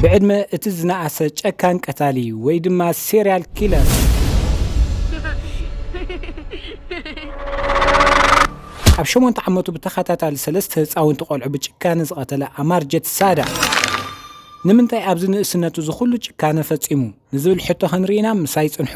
ብዕድመ እቲ ዝነኣሰ ጨካን ቀታሊ ወይ ድማ ሴሪያል ኪለር ኣብ ሸሞንተ ዓመቱ ብተኸታታሊ ሰለስተ ህፃውንቲ ቆልዑ ብጭካነ ዝቐተለ ኣማር ጀትሳዳ ንምንታይ ኣብዚ ንእስነቱ እዚ ኩሉ ጭካነ ፈጺሙ ንዝብል ሕቶ ክንርኢና ምሳይ ጽንሑ።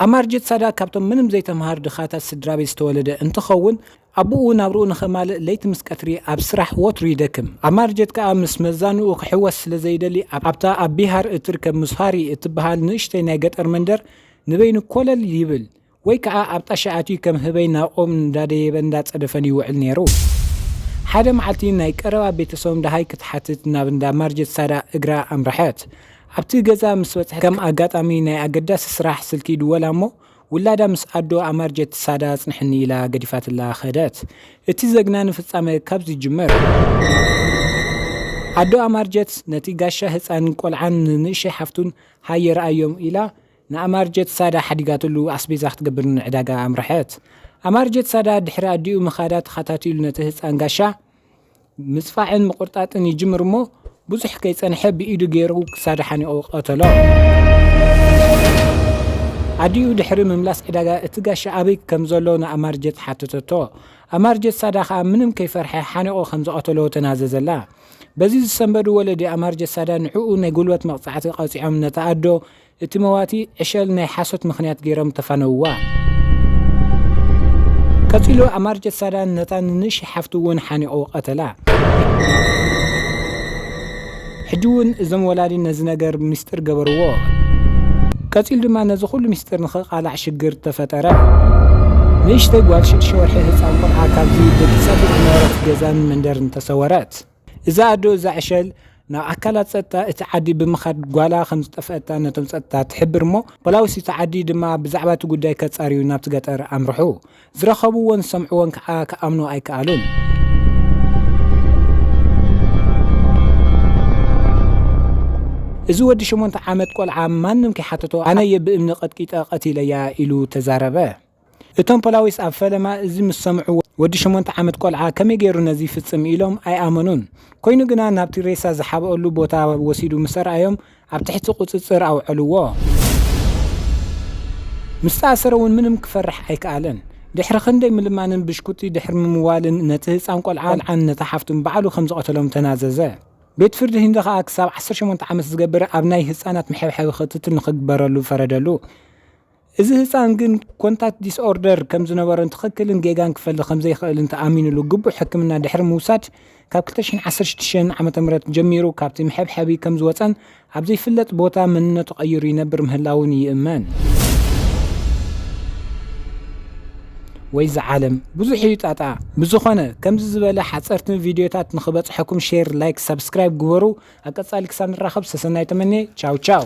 ኣማርጀት ሳዳት ካብቶም ምንም ዘይተምሃሩ ድኻታት ስድራ ቤት ዝተወለደ እንትኸውን ኣቦኡ ናብርኡ ንኸማልእ ለይቲ ምስ ቀትሪ ኣብ ስራሕ ወትሩ ይደክም። ኣማርጀት ከኣ ምስ መዛንኡ ክሕወስ ስለ ዘይደሊ ኣብታ ኣብ ቢሃር እትርከብ ሙስሃሪ እትበሃል ንእሽተይ ናይ ገጠር መንደር ንበይኑ ኮለል ይብል። ወይ ከኣ ኣብ ጣሻ ኣትዩ ከም ህበይ ናብ ኦም እንዳደየበን እንዳጸደፈን ይውዕል ኔሩ። ሓደ መዓልቲ ናይ ቀረባ ቤተሰቦም ደሃይ ክትሓትት ናብ እንዳ ማርጀት ሳዳ እግራ ኣምረሐት። ኣብቲ ገዛ ምስ በጽሐት ከም ኣጋጣሚ ናይ ኣገዳሲ ስራሕ ስልኪ ይድወላ እሞ ውላዳ ምስ ኣዶ ኣማርጀት ሳዳ ኣጽንሕኒ ኢላ ገዲፋትላ ከደት። እቲ ዘግናኒ ፍጻመ ካብዚ ይጅምር። ኣዶ ኣማርጀት ነቲ ጋሻ ህጻን ቆልዓን ንንእሸይ ሓፍቱን ሃየ ርኣዮም ኢላ፣ ንኣማርጀት ሳዳ ሓዲጋትሉ ኣስቤዛ ክትገብር ንዕዳጋ ኣምረሐት። ኣማርጀት ሳዳ ድሕሪ ኣዲኡ ምኻዳ ተኻታቲሉ ነቲ ህጻን ጋሻ ምጽፋዕን ምቑርጣጥን ይጅምር እሞ ብዙሕ ከይጸንሐ ብኢዱ ገይሩ ክሳዱ ሓኒቑ ቀተሎ። ኣዲኡ ድሕሪ ምምላስ ዕዳጋ እቲ ጋሻ ኣበይ ከምዘሎ ንኣማርጀት ሓተተቶ። ኣማርጀት ሳዳ ከኣ ምንም ከይፈርሐ ሓኒቑ ከምዝቐተሎ ተናዘዘላ። በዚ ዝሰንበዱ ወለዲ ኣማርጀት ሳዳ ንዕኡ ናይ ጉልበት መቕጻዕቲ ቀጺዖም ነታ ኣዶ እቲ መዋቲ ዕሸል ናይ ሓሶት ምኽንያት ገይሮም ተፋነውዋ። ቀጺሉ ኣማርጀት ሳዳን ነታ ንንእሽይ ሓፍቱ እውን ሓኒቑ ቐተላ። ሕጂ እውን እዞም ወላዲ ነዚ ነገር ሚስጥር ገበርዎ። ቀጺሉ ድማ ነዚ ኩሉ ሚስጥር ንኽቓላዕ ሽግር ተፈጠረ። ንእሽተይ ጓል ሽዱሽተ ወርሒ ህጻን ቖልዓ ካብዚ ደቂሳ ብዝነበረት ገዛን መንደርን ተሰወረት። እዛ ኣዶ እዛ ዕሸል ናብ ኣካላት ጸጥታ እቲ ዓዲ ብምኻድ ጓላ ከም ዝጠፍኣታ ነቶም ጸጥታ ትሕብር እሞ ፖላዊስ እቲ ዓዲ ድማ ብዛዕባ እቲ ጉዳይ ከጻርዩ ናብቲ ገጠር ኣምርሑ። ዝረኸብዎን ዝሰምዕዎን ከኣ ክኣምኑ ኣይከኣሉን። እዚ ወዲ ሸሞንተ ዓመት ቆልዓ ማንም ከይሓተቶ ኣነ እየ ብእምኒ ቀጥቂጠ ቀቲለያ ኢሉ ተዛረበ። እቶም ፖላዊስ ኣብ ፈለማ እዚ ምስ ሰምዑ ወዲ ሸሞንተ ዓመት ቆልዓ ከመይ ገይሩ ነዚ ይፍጽም ኢሎም ኣይኣመኑን። ኮይኑ ግና ናብቲ ሬሳ ዝሓብኦሉ ቦታ ወሲዱ ምስ ኣርኣዮም ኣብ ትሕቲ ቁጽጽር ኣውዐልዎ። ምስ ተኣሰረ እውን ምንም ክፈርሕ ኣይክኣለን። ድሕሪ ክንደይ ምልማንን ብሽኩቲ ድሕሪ ምምዋልን ነቲ ህጻን ቆልዓን ነታ ሓፍቱን ባዕሉ ከም ዝቐተሎም ተናዘዘ። ቤት ፍርዲ ህንዲ ከኣ ክሳብ ዓሰርተ ሸሞንተ ዓመት ዝገብር ኣብ ናይ ህጻናት መሐብሐቢ ክትትል ንኽግበረሉ ፈረደሉ። እዚ ህጻን ግን ኮንታክት ዲስኦርደር ከም ዝነበሮን ትኽክልን ጌጋን ክፈሊ ከም ዘይክእልን ተኣሚኑሉ ግቡእ ሕክምና ድሕሪ ምውሳድ ካብ ክልተ ሽሕን ዓሰርተ ሽዱሽተን ዓመተ ምህረት ጀሚሩ ካብቲ መሐብሐቢ ከም ዝወጸን ኣብ ዘይፍለጥ ቦታ መንነቱ ቀይሩ ይነብር ምህላዉን ይእመን። ወይዛ ዓለም ብዙሕ እዩ ጣጣ ብዝኾነ ከምዚ ዝበለ ሓፀርትን ቪድዮታት ንክበፅሐኩም ሼር ላይክ ሳብስክራይብ ግበሩ ኣብ ቀፃሊ ክሳብ ንራኸብ ሰሰናይ ተመኔ ቻው ቻው